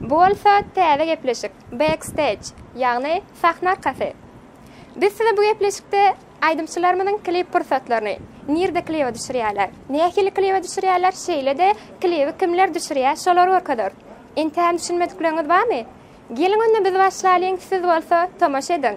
Bu bolsa täze gepleşik, Backstage, ýagny sahna arkasy. Biz size bu gepleşikde aýdymçylarymyzyň klip pursatlaryny, nirde kliba düşürýärler, nähili kliba düşürýärler, şeýle-de klibi kimler düşürýär, şolary görkezeris. Entägem düşünmedikleriňiz barmy? Geliň onda biz başlalyň, siz bolsa tomaşa ediň!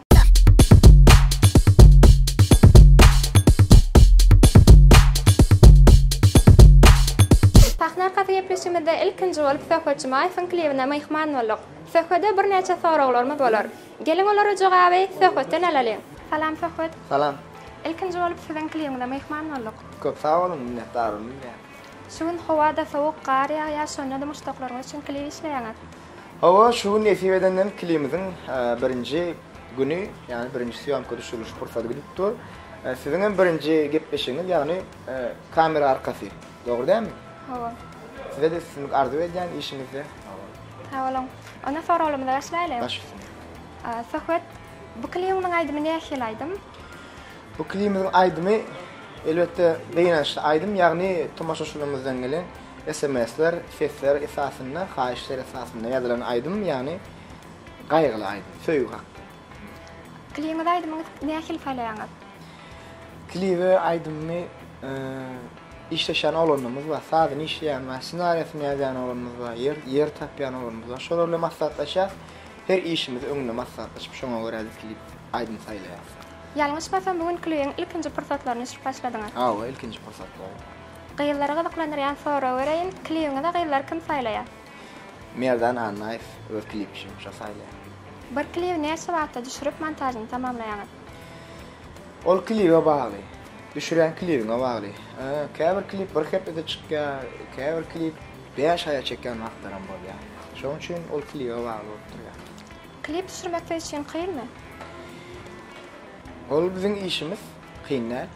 Sahna arkasy gepleşigimizde ilkinji bolup Söhbetçi Maýewiň klibine myhman bolduk. Söhbede birnäçe soraglarymyz bolar. Geliň olara jogaby Söhbetden alalyň. Salam Söhbet. Salam. Ilkinji bolup siziň klibiňize myhman bolduk. Köp sag boluň, minnetdarlygymy bilýän. Şu gün howa-da sowuk, gar ýagýar, şonda-da muşdaklaryňyz üçin klip işleýäňiz. Hawa, şu gün nesip edenden klimiziň birinji güni, ýagny birinji sýomka düşüriliş pursady gidip dur. Siziň hem birinji gepleşigiňiz, ýagny kamera arkasy. Dogry dälmi? Hawa. Size-de üstünlik arzuw edýän işiňizde. Sag boluň. Onda soraglarymyza başlaýly. Baş üstüne. Söhbet bu klimiň aýdymy nähili aýdym? Bu klimiň aýdymy elbetde gynançly aýdym, ýagny tomaşaçylarymyzdan gelen Sms-ler, sesler esasynda, haýyşlar esasynda ýazylan aýdym, ýagny gaýgyly aýdym, söýgi hakda. Klibiňize aýdymy nähili saýlaýaňyz? Klibe aýdymy işleşýän oglanymyz bar, sazyny işleýän bar, ssenariýasyny ýazýan oglanymyz bar, ýer ýer tapýan oglanymyz bar. Şolar bilen maslahatlaşýas. Her işimizi öňünde maslahatlaşyp, şoňa görä biz klip aýdym saýlaýas. Ýalňyşmasam, bu gün klibiň ilkinji pursatlaryny düşürip başladyňyz? Hawa, ilkinji pursatlary. Gyzlary gyzyklandyrýan sorag bereýin, klibiňize gyzlary kim saýlaýar? Merdan Annaýew öz klip işini şo saýlaýar. Bir klibi näçe wagtda düşürip montažyny tamamlaýaňyz? Ol klibe bagly. Düşürýän klibiňe bagly. Käbir klip bir hepdede çykýar, käbir klip bäş aýa çekýän wagtlaram bolýar. Şonuň üçin ol klibe bagly bolup durýar. Klip düşürmek siz üçin kynmy? Ol biziň işimiz. Kyn däl.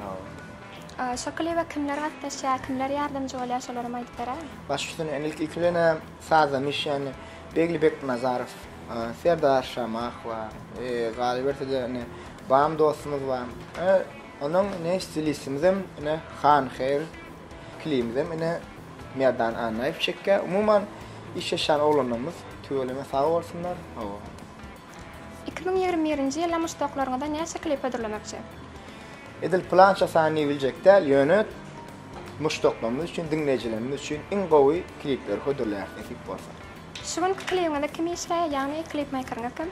Hawa. Şo kliba kimler gatnaşýar, kimler ýardamçy bolýar şolaram aýdyp beräý. Baş üstüne ene ilki bilenem sazda mişeni Begli Beknazarow, Serdar Şamah bar. Galyberse-de ene Bam dostumyz bar. Onuň ene stilistimiz-em ene Han Hair. Klibimizem ene Merdan Annaýew çekýär. Umuman işleşýän oglanlarymyz tüweleme sag bolsunlar. Hawa. Iki müň ýigrimi birinji ýyla muşdaklaryňyza näçe klip hödürlemekçi? Edil pylança sany diýibiljek däl, ýöne muşdaklarymyz üçin, diňleýjilerimiz üçin iň gowy klipleri hödürleýäris nesip bolsa. Şu günki klibiňizde kim işleýär, ýagny klipmeýkeriňiz kim?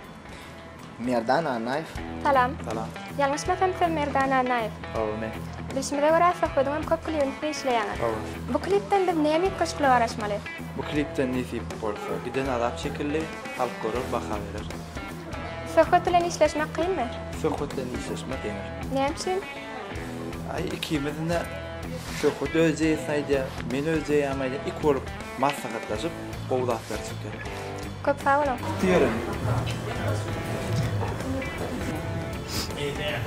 Merdan Annaýew. Salam. Salam. Ýalňyşmasam siz Merdan Annaýew. Hawa men. Bilşimize görä söhbediňem köp klibini siz işleýäňiz. Hawa. Bu klipden biz näme üýtgeşiklige garaşmaly? Bu klipden nesip bolsa giden azap çekildi. Halk görer, baha berer. Söhbet bilen işleşmek kynmy? Söhbet bilen işleşmek ýeňil. Näme üçin? Aý, ikimiziň-de Söhbet öz jeýesini aýdýar, men öz jeýämi aýdýar. Iki bolup maslahatlaşyp, gowy zatlar çykýar. Köp sag boluň! Diýerin. Eýdýän.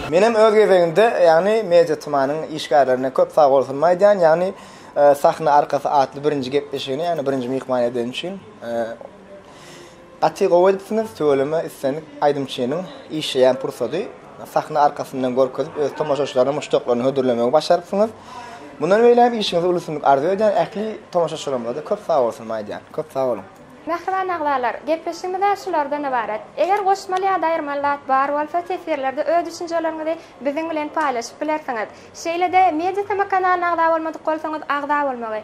Menem öz gezegimde, ýagny Media Tmanyň işgärlerine köp sagbolsunymy aýdýan, ýagny Sahna arkasy atly birinji gepleşigini, ýagny birinji myhman edeni üçin. Gaty gowy edipsiňiz tüweleme islendik aýdymçynyň işleýän pursady sahna arkasyndan görkezip öz tomaşaçylaryny muşdaklaryny hödürlemegi başarypsyňyz mundan beýlägem işiňizde ulusunlik arzuw edýän ähli tomaşaçylarymyzada köp sagbolsunymy aýdýan köp sag boluň. Mähriban agzalar, gepleşigimiz-ä şulardan ybarat. Eger goşmaly ýa-da aýyrmaly zat bar bolsa, teswirlerde öz düşünjeleriňizi biziň bilen paýlaşyp bilersiňiz. Şeýle-de, Media Tm kanalyna agza bolmadyk bolsaňyz, agza bolmagy,